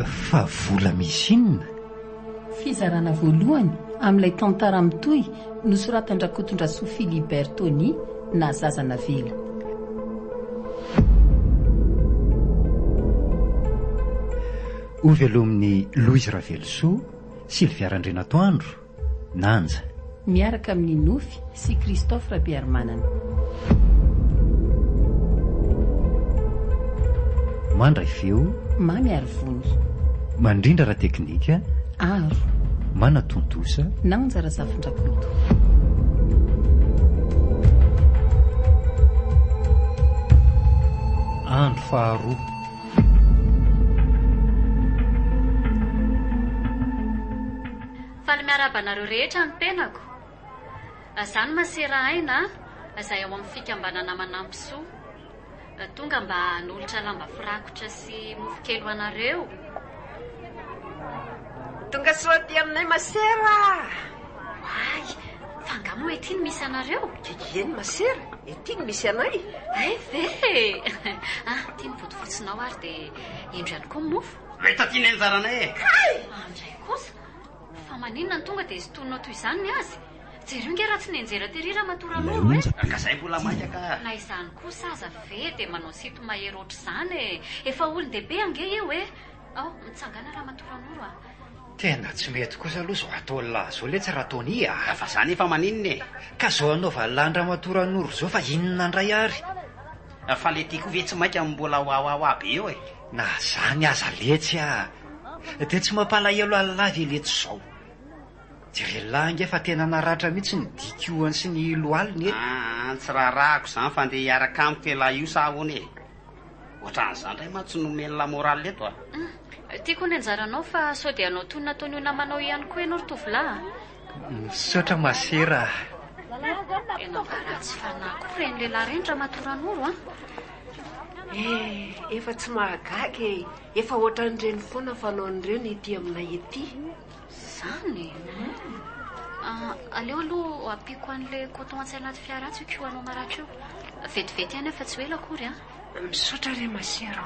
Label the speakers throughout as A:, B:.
A: Fa vola misy inona? Fizarana
B: voalohany amin'ilay tantara mitohy nosoratan-dRakotondrasoa Philibert Tony na Zaza Navela.
A: Ho velomin'i Louise Ravelosoa, Sylvia Randrianatoandro, Nanja. Miaraka
B: amin'i Nofy sy Christophe Rabearimanana.
A: Mandray feo. Mamy Arivony.
B: Mandrindra
A: ara-teknika. Aro.
B: Manatontosa.
A: Nanja
B: Razafindrakoto.
A: Andro faharoa.
C: Faly miarahaba anareo rehetra ny tenako. Za no masera aina zay ao amin'ny fikambanana Manampy Soa. Tonga mba hanolotra lamba firakotra sy mofo kely ho anareo.
D: Tonga soa aty aminay masera ah.
C: Oay, fa nga moa ety no misy anareo? Ieny masera,
D: ety no misy anay. Hay ve e!
C: Aty ny bodofotsonao ary dia indro ihany koa ny mofo. Mahita ty ny anjaranay
E: e! Kay! Andray kosa!
C: Fa maninona no tonga dia sintoninao toy izany ny azy? Jereo nge raha tsy nenjera tery Ramatoa Ranoro e! Ka izay mbola maika ka!
E: Na izany kosa
C: aza ve dia manao sinto mahery ohatr'izany e! Efa olon-dehibe ange io e! Ao, mitsangàna Ramatoa Ranoro a! Tena tsy
F: mety kosa aloha izao ataon'i lahy izao letsy Ratony a! Fa izany efa maninona
E: e! Ka izao anaovan'i
F: lahy an-dRamatoa Ranoro izao fa inona indray ary? Fa ilay
E: ty koa ve tsy mainka mbola wawawa be eo e! Na zany aza
F: letsy a! Dia tsy mampalahelo Allah ve letsy zao? Jerellah ange fa tena naratra mihitsy ny dikoany sy ny lohaliny e! An tsy raharahako
E: zany fa ndeha hiaraka amiko elah io sa ahoana e? Ohatran'izany ndray mantsy no omeny la morale eto a! An! Tiako ny
C: anjaranao fa sao dia hanao toy ny nataon'io namanao io ihany koa ianao ry tovolahy a! Misaotra
F: ma sera a!
C: Tena mba ratsy fanahy koa ireny lehilahy ireny ramatoa Ranoro a! Eh,
D: efa tsy mahagaga e. Efa ohatran'ireny foana fanaon'ireo ny ety aminay ety. Zany
C: e. Ah, aleo aloha ampiako an'ilay coton atsy anaty fiara atsy io kihoanao maratra io. Vetivety ihany aho fa tsy ho ela akory an. Misaotra re
D: ma chère.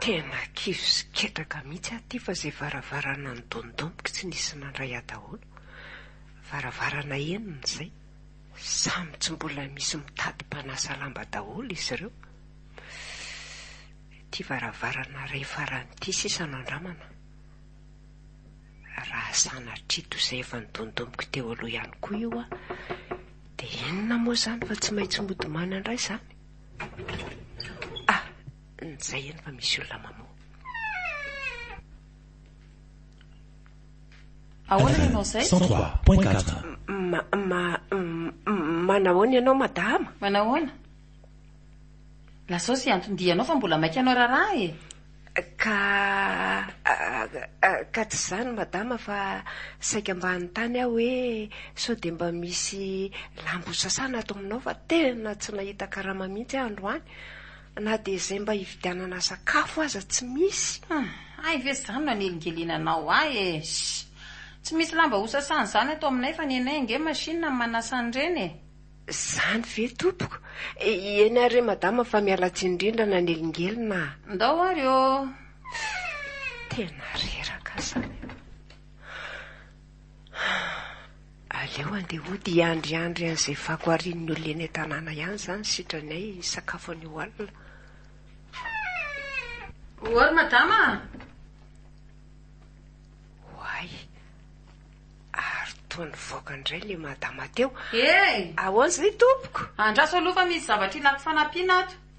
D: Tena kivy sy ketraka mihitsy aho ity fa zay varavarana nodondomiko tsy nisy nandray ahy daholo. Varavarana enina izay. Samy tsy mbola misy mitady mpanasa lamba daholo izy ireo. Ity varavarana iray farany ity sisa no andramana. Raha sanatria toy izay efa nodondomiko teo aloha ihany koa io an, dia inona moa izany fa tsy maintsy mody manandrasa an? Ah! Zay eny fa misy olona mamoha.
B: Ahoana ianao izay? 103.4
G: Ma, ma,
D: m- manahoana ianao madama? Manahoana?
B: Lazao izay anton-dianao fa mbola maika anao raharaha e. Ka,
D: ah, ah, ka tsy izany madama fa saika mba hanontany aho hoe sao dia mba misy lamba hosasana ato aminao fa tena tsy nahita karama mihitsy aho androany. Na dia izay mba hividianana sakafo aza tsy misy. Hum, hay ve izany
B: no hanelingelina anao ahy e! Ssy! Tsy misy lamba hosasana izany ato aminay fa ny anay ange machine no manasa an'ireny e! Izany ve
D: tompoko? Eny ary re madama fa miala tsiny indrindra nanelingelina aho. Ndao ary ô! Tena reraka izany. Aleo andeha hody hiandriandry an'izay fako harian'ny olona eny an-tanàna ihany izany sitranay hisakafo anio alina.
B: Oa ry madama a!
D: Oay! Ary toa nivoaka indray ilay madama teo. Hey! Ahoana
B: izay tompoko?
D: Andraso aloha fa misy
B: zavatra ilako fanampiana ato.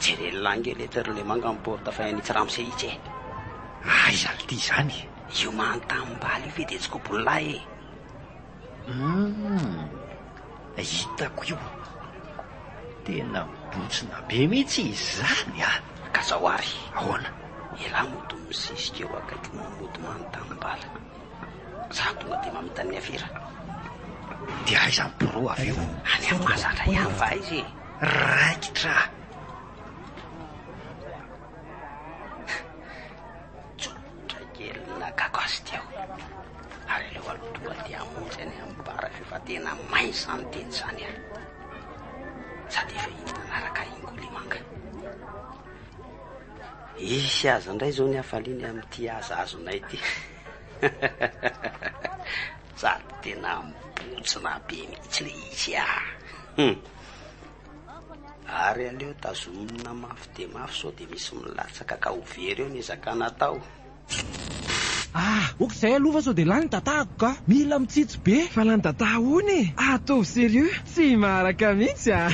E: Jereo langue le toerana le manga am porte fa any tsiramose itsy e. Aiza ry
F: ty zany e. Io mahan
E: tanimbala io ve de tsy kobony lahy e. Humm
F: hitako io. Tena bontsina be mihitsy izany a. Ka zao ary.
E: Ahoana.
F: Elah mody
E: misisika eo akaiky moa mody mahan tanimbala. Za tonga de mamitany ny afera.
F: De aiza ny pro avy eo. Any am mahazatra
E: ihany fa aiza e. Raikitra
F: aho.
E: Tsotra kely ny nakako azy teo. Ary aleo aloha tonga dia hamonjy any amin'ny bar avy eo fa tena may izany teny izany aho. Sady efa iny manaraka ingoli manga. Hisy aza indray izao ny hafaliany amin'ity aza azonay ity. Sady tena mibontsina be mihitsy le izy ah! Hum! Ary aleo tazomina mafy dia mafy sao dia misy milatsaka ka ho very eo ny ezaka natao. Ah!
G: Ok izay aloha fa sao dia lany ny datako ka! Mila mitsitsy be fa lany dada hono e! Ataovy serieux! Tsy maharaka mihitsy ah.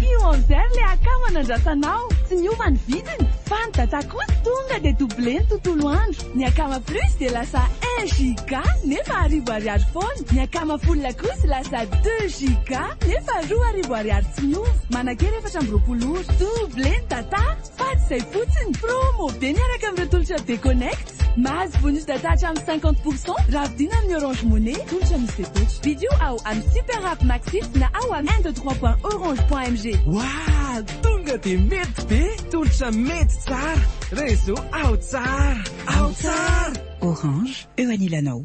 G: Kionzer
H: le akama nandrasanao, tsy niova ny vidiny, fa ny data kosa tonga dia doublé ny tontolo andro, ny akama plus dia lasa un giga nefa arivo ariary foana, ny akama full kosa lasa deux giga nefa roa arivo ariary tsy miova, manakera efatra amby roapolo ora, doublé ny data, fady izay fotsiny, promo be miaraka amin'ireo tolotra be connect. Mahazo bonus data hatramin'ny cinquante pour cent raha vidiana amin'ny Orange Money, tolotra misy fepetra. Vidio ao amin'ny Super App Maxit na ao amin'ny un deux trois point orange point mg. Wah!
G: Tonga dia mety be! Tolotra mety tsara! Réseau ao tsara! Ao tsara! Orange,
I: eo anilanao.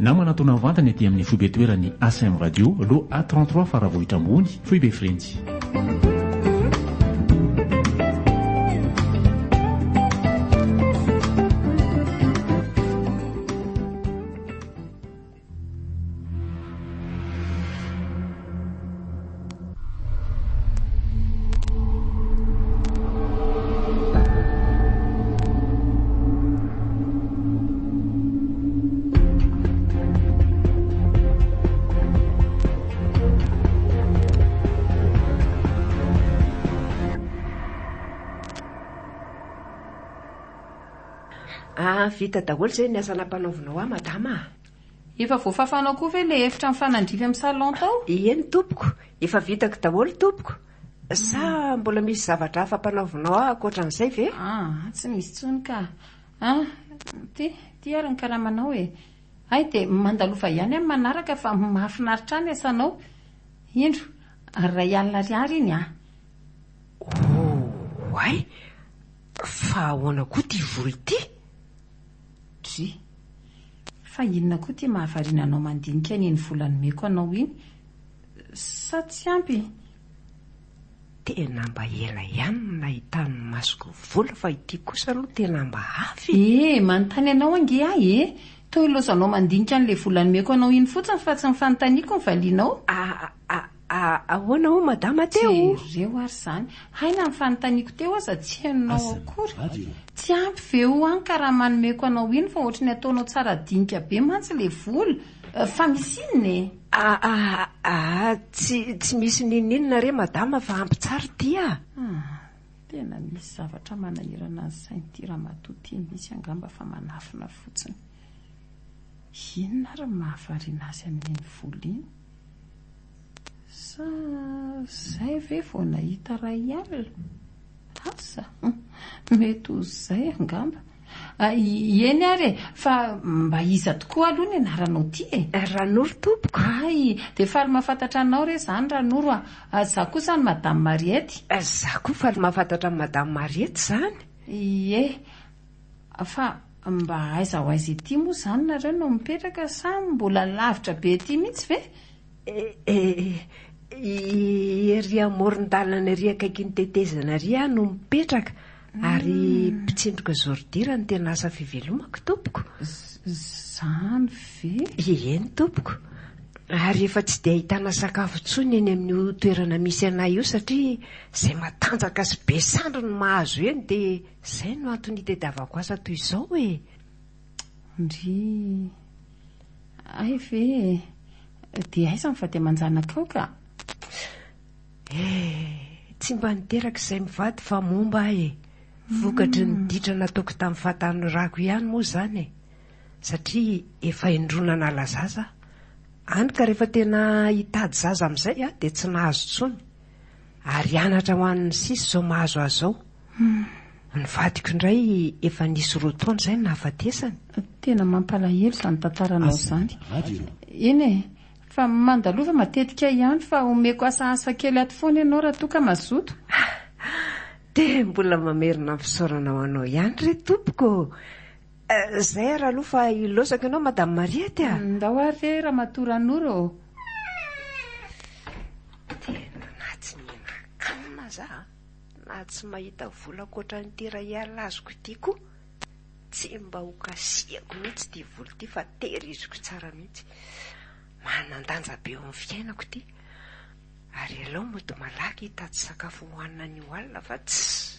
J: Namana toa navantana ety amin'ny foibe toeran'ny ACM Radio, loha A trente trois Faravohitra Ambony, foibe Frenjy.
D: Ah, vita daholo izay ny asa nampanaovinao ahy Madama a! Efa
B: voafafanao koa ve ilay efitra mifanandrify amin'ny salon tao? Eny tompoko,
D: efa vitako daholo tompoko, sa mbola misy zavatra hafa ampanaovinao ahy ankoatran'izay ve? Ah, tsy misy intsony
B: ka. Ah, ty, ty ary ny karamanao e. Hay dia mandalova ihany amin'ny manaraka fa mahafinaritra ahy ny asanao. Indro, ary iray alina ariary iny an!
D: Oay! Fa ahoana koa ity vola ity? Dry.
B: Fa inona koa ity mahavariana anao mandinika an iny vola nomeko anao iny? Sa tsy ampy?
D: Tena mba ela ihany no nahitan'ny masoko vola fa ity kosa aloha tena mba hafa e! Ee, manontany anao ange
B: aho e! Toa ilaozanao mandinika an'ilay vola nomeko anao iny fotsiny fa tsy ny fanontaniako ny valianao. Aa.
D: Ahoana hoy Madama teo? Jereo ary izany.
B: Hay na ny fanontaniako teo aza tsy henonao akory. Tsy ampy ve ho an ka raha manomeko anao iny fa ohatry ny ataonao tsara dinika be mantsy le vola. Fa misy inona e? Aa tsy
D: tsy misy ninoninona re Madama fa ampy tsara ity a! Tena
B: misy zavatra manahirana ny sain'ity ramatoa ity mihitsy angamba fa manafina fotsiny. Inona ary no mahavariana azy amin'iny vola iny? Sa zay ve vao nahita ray alina? Asa? Mety ho zay angamba. Eny ary e, fa mba iza tokoa aloha ny anaranao ty e? Ranoro tompoko.
D: Hay, dia faly
B: mahafantatra anao re zany Ranoro a. Za kosa an'i Madame Mariette. Za koa faly
D: mahafantatra an'i Madame Mariette zany. Ie.
B: Fa mba aiza ho aiza ety moa izany nareo no mipetraka sa mbola lavitra be ety mihitsy ve? Eh,
D: ery amoron-dalana ery akaikin'ny tetezana ery aho no mipetraka ary hmm. mpitsindroka zordira no tena asa fivelomako tompoko. Izany
B: ve? Eny tompoko.
D: Ary efa tsy dia ahitana sakafo intsony eny amin'io toerana misy anay io satria izay matanjaka sy be sandry no mahazo eny dia Izay no antony itadiavako asa toy izao e! Ndry.
B: Hay ve e! Dia aiza ny vady aman-janakao ka? Eh,
D: tsy mba niteraka izay mivady fa momba ahy e! Vokatry ny ditra nataoko tamin'ny fahatanorako ihany moa izany e! Satria efa indroa nanala zaza aho. Hany ka rehefa tena hitady zaza amin'izay aho dia tsy nahazo intsony. Ary anatra ho an'ny sisa izao mahazo ahy izao. Humm. Ny vadiko indray efa nisy roa taona izay no nahafatesany. Tena
B: mampalahelo izany tantaranao izany. Eny e, fa mandalova matetika ihany fa omeko asaasa kely ato foana ianao raha toa ka mazoto.
D: Dia mbola mamerina ny fisaorana ho anao ihany re tompoko oh. Izay ary aloha fa hilaozako ianao Madame Mariette a. Ndao ary re Ramatoa
B: Ranoro ô.
D: Tena natsiniana akana za a. Na tsy mahita vola ankoatran'ity iray alina azoko ity koa, tsy mba ho kasihako mihitsy ity vola ity fa tehiriziko tsara mihitsy. Manan-danja be eo amin'ny fiainako ity. Ary aleo mody malaky hitady sakafo hohanina anio alina fa tsy.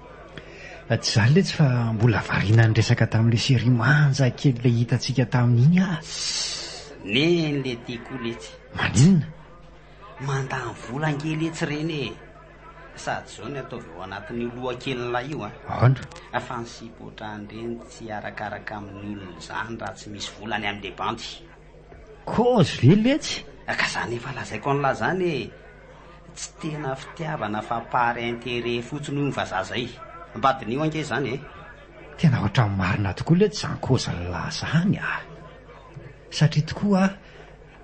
E: Tsy
F: zany letsy fa mbola variana niresaka tamin'ilay série manja kely ilay hitantsika tamin'iny aho. Ssss neny
E: le ty koa letsy. Maninona? Mandany vola ange letsy reny e! Sady zao ny ataovy ao anatin'io lohakelin'ilay io an! Ahoana? Fa ny
F: sipotra
E: an'ireny tsy arakaraka amin'ny olona izany raha tsy misy vola any amin'ny bandy. Kozy
F: ve letsy? Ka zany efa
E: lazaiko anla zany e! Tsy tena fitiavana fa par intérêt fotsiny hono vazaha zay. Mba diniho ange zany e! Tena ohatran'ny
F: marina tokoa letsy zany kozy nla zany a! Satria tokoa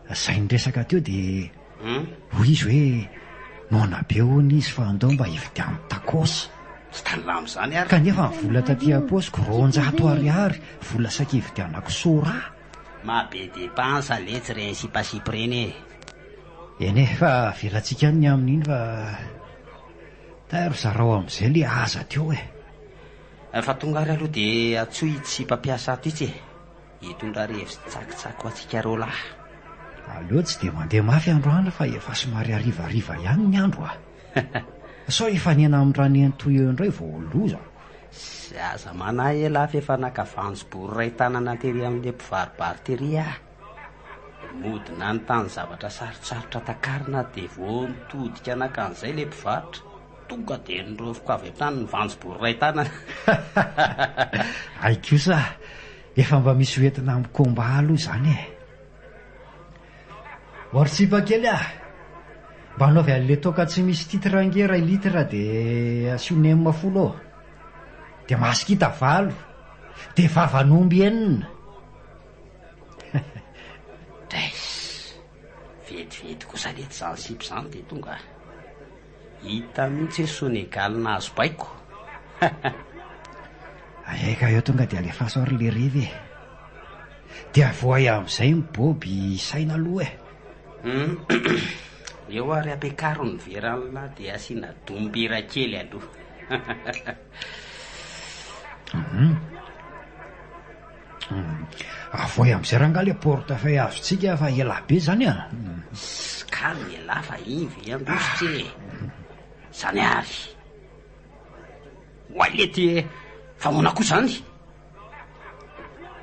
F: a, zay niresaka teo de hoy izy hoe noana be hono izy fa ndao mba hividiano tacos. Tsy taninla
E: mizany ary! Kanefa ny vola taty
F: ampaosiko roanjato ariary vola saika hividianako sora. Maha be
E: depense letsy reny sipasipy reny e. Eny e,
F: fa avelantsika any ny amin'iny fa tairo zarao amin'izay le aza teo e. Fa
E: tonga ary aloha dia atsoy ity sipa mpiasa ato itsy e. Hitondra revy tsakitsaky ho antsika roa lahy. Aleo
F: tsy dia mandeha mafy androany fa efa somary harivariva ihany ny andro a. Sao hifanena am ranentoo eo indray vao ho loza. Zay aza
E: manahy elah f'efa naka vanjom-bory iray tanana tery amin'le mpivaribary tery ah! Mody nanontany zavatra sarotsarotra takarina de vao nitodika naka an'izay le mpivarotra, tonga de niraofiko avy hatrany ny vanjom-bory iray tanana. Hay
F: kosa ah! Efa mba misy hoentina am combat aloha izany eh! Or sipa kely ah! Mba anaovy anle toaka tsy misy titre ange ray litre de asio nem folo eo. De masikita valo. De vavan'omby enina. Drais!
E: Vetivety kosa letsy zany sipa zany de tonga ah! Hita mihitsy ny soa negaly nahazo baiko.
F: Aia ka eo tonga dia alefaso ary le revy e. Dia voay amin'izay ny boby saina aloha e. Hum,
E: eo ary ampiakaro ny vera an'la dia asiana dombira kely aloha. Hum.
F: Avoay amzay rangah le porte fay azontsika fa elah be zany a. Calme
E: elah fa ivy i Andositra e. Zany avy. Oay le ty e. Fa ahoana koa zany?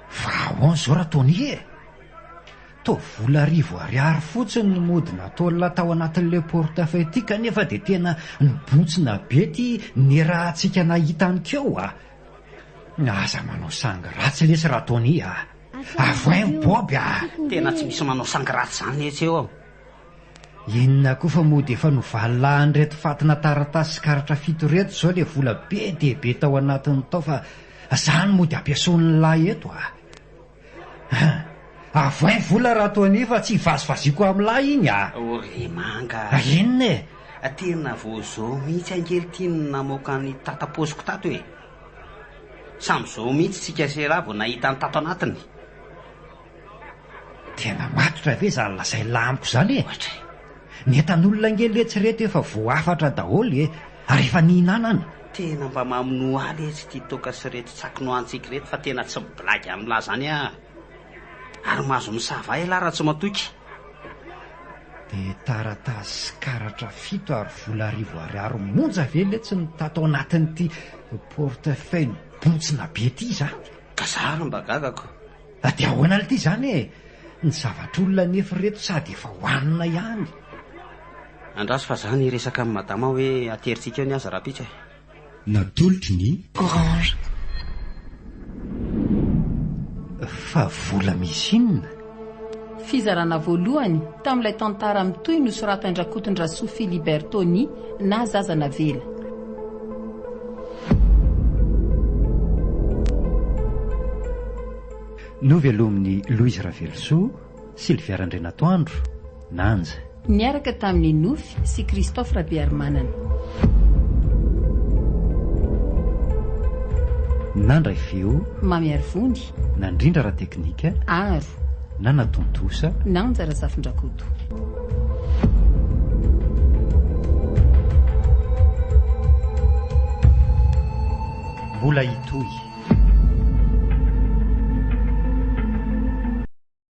F: Fa ahoana zao ra Tony e? Toa vola arivo ariary fotsiny no mody natolona tao anatin'ilay portefeuille ity kanefa dia tena nibontsina be ity nerahantsika nahita an'i Keo a! Aza manao sangy ratsy lesy ra Tony a! Avoay
E: ny
F: Bob
E: a! Tena tsy
F: misy
E: manao sangy ratsy
F: zany
E: etsy eo an!
F: Inona koa fa mody efa novalilahin'ireto fatina taratasy sy karatra fito ireto izao ilay vola be dia be tao anatiny tao fa izany mody ampiasoan'ny lahy eto a! Ah! Avohay vola raha toa an'io fa tsy hivazivaziako amin'ny lahy iny ah! O ry manga!
E: Ah, inona e?
F: Tena vao
E: zao mihitsy ange ty no namoaka ny tata paosiko tato e! Samy zao mihitsy tsika sy ra vao nahita ny tato anatiny.
F: Tena matotra ve zany lazain'la amiko zany e? Ohatra e! Ny entan'olona ange letsy reto efa voahafatra daholo e! Ary efa nihinanana. Tena mba maminoa
E: ahy letsy ity toaka sy reto tsaky nohantsiky reto fa tena tsy blagy amin'ny lahy zany aa. Ary mahazo misava ela aho raha tsy matoky.
F: Dia taratasy sy karatra fito ary vola arivo ariary monja ve letsy no tato anatin'ity porte-feuille mibontsina be ity izany? Ka za ary mba
E: gagako. Fa dia ahoana
F: aloha ity izany e! Ny zavatr'olona anefa ireto sady efa hohanina ihany.
E: Andraso fa za niresaka amin'i Madama hoe aterintsika eo ny azy rahampitso e! Natolotry
K: ny. Orange.
F: Fa vola misy inona? Fizarana
B: voalohany tamin'ilay tantara mitohy nosoratan-dRakotondrasoa Philibert Tony na Zaza Navela.
A: Novelomin'i Louise Ravelosoa, Sylvia Randrianatoandro, Nanja. Niaraka tamin'i
B: Nofy sy Christophe Rabearimanana.
A: Nandray feo. Mamy Arivony.
B: Nandrindra ara-teknika.
A: Aro.
B: Nanatontosa.
A: Nanja Razafindrakoto. Mbola hitohy.